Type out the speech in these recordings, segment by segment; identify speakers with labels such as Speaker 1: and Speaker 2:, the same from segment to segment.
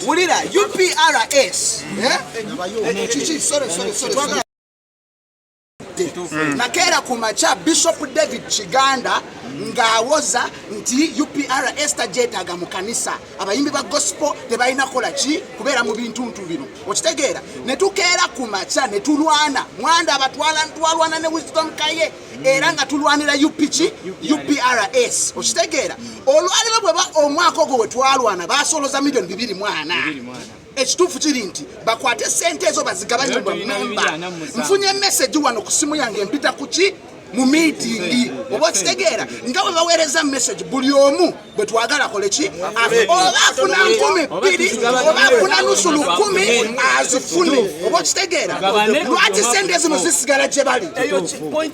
Speaker 1: wulira uprs Mm. nakeera ku makya bishop david kiganda ng'awoza nti upr ester gyetaaga mu kanisa abayimbi ba gospel tebalina kola ki kubeera mu bintuntu bino okitegeera ne tukeera ku makya ne tulwana mwanda abatwala ntwalwana ne wisdom kaye era nga tulwanira upiki uprs okitegeera olwaliro bweba omwaka ogwo wetwalwana basoloza milioni bibiri mwana ekituufu kiri nti bakwate sente ezo bazigabanye bamemba nfunye meseji wano ku simu yange empita kuki mu miitingi oba okitegeera nga bwe baweereza meseji buli omu gwe twagala kole ki oba afuna nkumi bbiri oba afuna nusu lukumi azifune oba okitegeera lwaki sente zino zisigala gye bali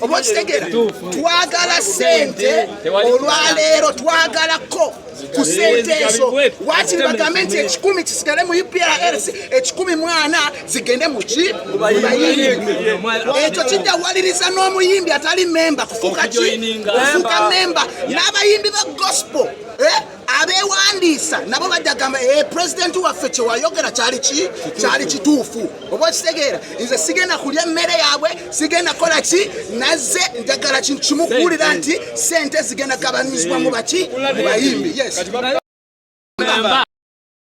Speaker 1: oba okitegeera twagala sente olwaleero twagalako ku sente ezo wakiri bagambe nti ekikumi kisigale mu uprc ekikumi mwana zigende muki mubayimbi ekyo kijawaliriza n'omuyimbi atali memba kufuuka ki kufuuka memba n'abayimbi ba gospel eh? abewandiisa nabo bajagamba e eh, pulezidenti waffe kyewayogera kyali ki kyali kituufu oba okitegeera nze sigenda kulya emmere yaabwe sigenda kola ki naze njagala kintu kimu kuwulira nti sente zigenda gabanyizibwa mu baki mu bayimbi yes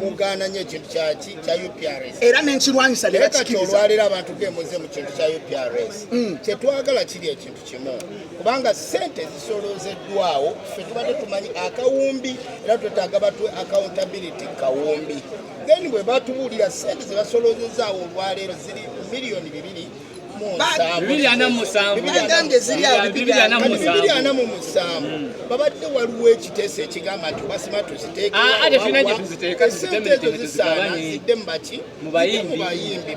Speaker 2: mugaana nnyo ekintu kyaki kya uprs era nenkirwanyisa
Speaker 1: nekati olwaleero abantu
Speaker 2: gemuze mu kintu kya uprs mm. kyetwagala kiri ekintu kimu kubanga sente zisolozeddwawo fe tubadde tumanyi akawumbi era twetaaga batwe accountability kawumbi then bwe batubuulira sente zebasolozezaawo olwaleero ziri miliyoni bibiri bibiri ana mu musanvu bagambye ziri bibiri ana mu musanvu hmm. babadde waliwo ekiteeso ekigamba nti basima tuziteekesente ah, ezo zisaana zidde mu baki mu bayimbi